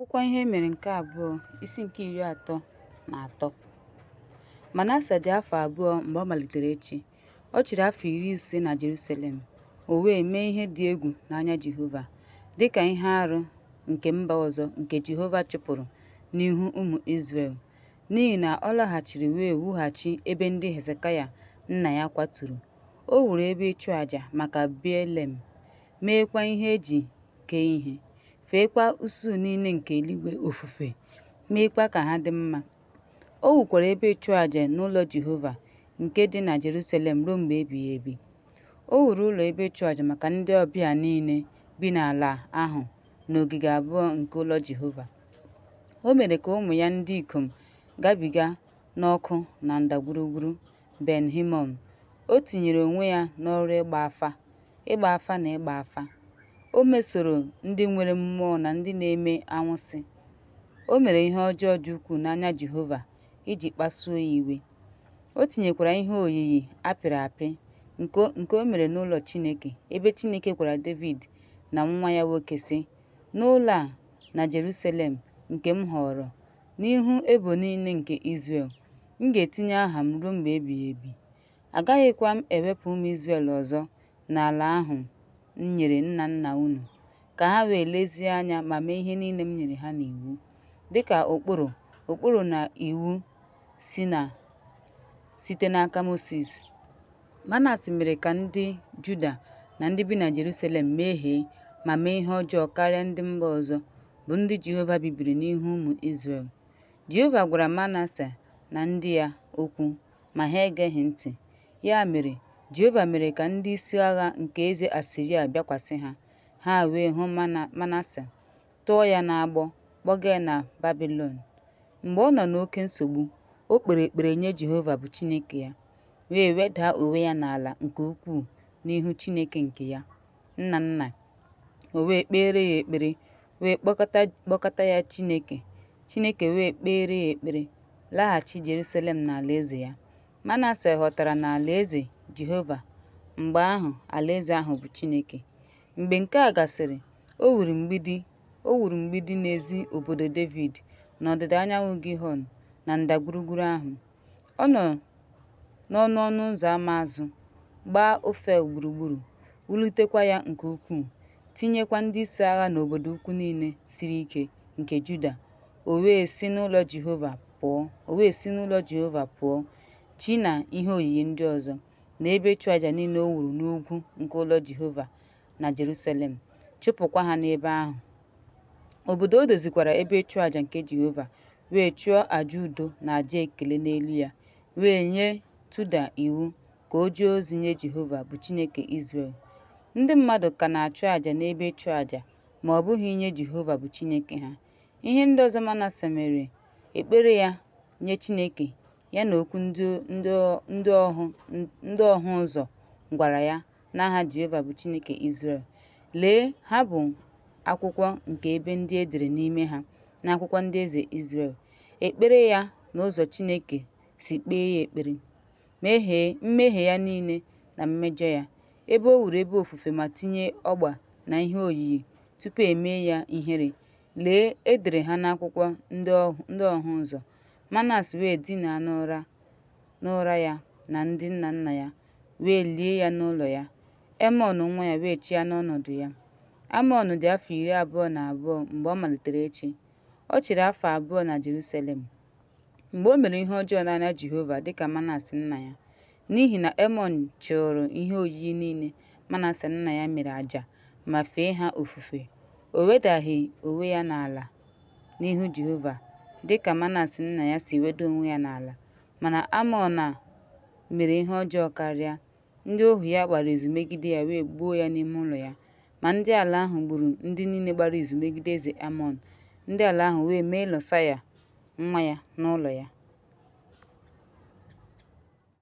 Akwụkwọ Ihe Mere nke Abụọ, isi nke iri atọ na atọ. Manasa dị afọ abụọ mgbe ọ malitere ịchị. Ọ chịrị afọ iri ise na Jerusalem, o wee mee ihe dị egwu n'anya Jehova, dị ka ihe arụ nke mba ọzọ nke Jehova chụpụrụ n'ihu ụmụ Izrel, n'ihi na ọ laghachiri wee wughachi ebe ndị Hezekaya nna ya kwaturu. O wuru ebe ịchụaja maka Beelem, meekwa ihe e ji kee ihe, feekwa usuu niile nke eluigwe ofufe, meekwa ka ha dị mma. O wukwara ebe ịchụaja n'ụlọ Jehova nke dị na Jerusalem ruo mgbe ebighị ebi. O wuru ụlọ ebe ịchụaja maka ndị ọbịa niile bi n'ala ahụ n'ogige abụọ nke ụlọ Jehova. O mere ka ụmụ ya ndị ikom gabiga n'ọkụ na ndagwurugwu Ben Himon, o tinyere onwe ya n'ọrụ ịgba afa, ịgba afa na ịgba afa. O mesoro ndị nwere mmụọ na ndị na-eme anwụsị. O mere ihe ọjọọ dị ukwuu n'anya Jehova iji kpasuo ya iwe. O tinyekwara ihe oyiyi a pịrị apị nke o mere n'ụlọ Chineke, ebe Chineke gwara Devid na nwa ya nwoke, sị, N'ụlọ a na Jerusalem nke m họọrọ, n'ihu ebo niile nke Izrel, M ga-etinye aha m ruo mgbe ebighị ebi, agaghịkwa m ewepụ ụmụ Izrel ọzọ n'ala ahụ m nyere nna nna unu, ka ha wee lezie anya ma mee ihe niile m nyere ha n'iwu, dịka ụkpụrụ ụkpụrụ na iwu si na site n'aka Mosis. Manase mere ka ndị Juda na ndị bi na Jerusalem mehie ma mee ihe ọjọọ karịa ndị mba ọzọ, bụ ndị Jehova bibiri n'ihu ụmụ Izrel. Jehova gwara Manase na ndị ya okwu, ma ha egeghị ntị. Ya mere, Jehova mere ka ndị isi agha nke eze Asiria bịakwasị ha, ha wee hụ Manase, tụọ ya n'agbụ, kpọga ya na Babilọn. Mgbe ọ nọ n'oke nsogbu, o kpere ekpere nye Jehova bụ Chineke ya, wee wedaa onwe ya n'ala nke ukwuu n'ihu Chineke nke ya, nna nna o wee kpeere ya ekpere wee kpọ kpọkọta ya Chineke, Chineke wee kpeere ya ekpere, laghachi Jerusalem na alaeze ya. Manase ghọtara na alaeze Jehova mgbe ahụ alaeze ahụ bụ Chineke. Mgbe nke a gasịrị, o wuru mgbidi o wuru mgbidi n'ezi obodo Devid n'ọdịda anyanwụ Gihon na ndagwurugwu ahụ. Ọ nọ n'ọnụ ọnụ ụzọ ama azụ, gbaa Ofel gburugburu, wulitekwa ya nke ukwuu, tinyekwa ndị isi agha n'obodo ukwu niile siri ike nke Juda. O wee si n'ụlọ Jehova pụọ, chi na ihe oyiyi ndị ọzọ, na ebe ịchụaja niile o wuru n'ugwu nke ụlọ Jehova, na Jerusalem, chụpụkwa ha n'ebe ahụ. Obodo o dozikwara ebe ịchụ àjà nke Jehova, wee chụọ àjà udo na àjà ekele n'elu ya, wee nye Tuda iwu ka o jee ozi nye Jehova bụ Chineke Izrel. Ndị mmadụ ka na-achụ àjà n'ebe ịchụ àjà, ma ọ bụghị nye Jehova bụ Chineke ha. Ihe ndị ọzọ Manase mere, ekpere ya nye Chineke, ya na okwu ndị ọhụ ụzọ gwara ya n'aha Jehova bụ Chineke Izrel. Lee, ha bụ akwụkwọ nke ebe ndị e dere n'ime ha n'akwụkwọ ndị eze Izrel. Ekpere ya na ụzọ Chineke si kpee ya ekpere, mmehie ya niile na mmejọ ya, ebe o wuru ebe ofufe ma tinye ọgba na ihe oyiyi tupu e mee ya ihere. Lee, e dere ha n'akwụkwọ ndị ọhụ ụzọ. Manas wee dinaa n'ụra n'ụra ya na ndị nna nna ya, wee lie ya n'ụlọ ya. Emọn nwa ya wee chịa n'ọnọdụ ya. Amọn dị afọ iri abụọ na abụọ mgbe ọ malitere ịchị. Ọ chịrị afọ abụọ na Jerusalem. Mgbe o mere ihe ọjọọ n'anya Jehova dị ka Manas nna ya, n'ihi na Emọn chụụrụ ihe oyiyi niile Manas nna ya mere àjà ma fee ha ofufe, o wedaghị onwe ya n'ala n'ihu Jehova dị ka Manas nna ya si weda onwe ya n'ala. Mana Amọn a mere ihe ọjọọ karịa. Ndị ohu ya gbara izu megide ya wee gbuo ya n'ime ụlọ ya. Ma ndị ala ahụ gburu ndị niile gbara izu megide eze Amọn. Ndị ala ahụ wee mee Lọsaya nwa ya n'ụlọ ya.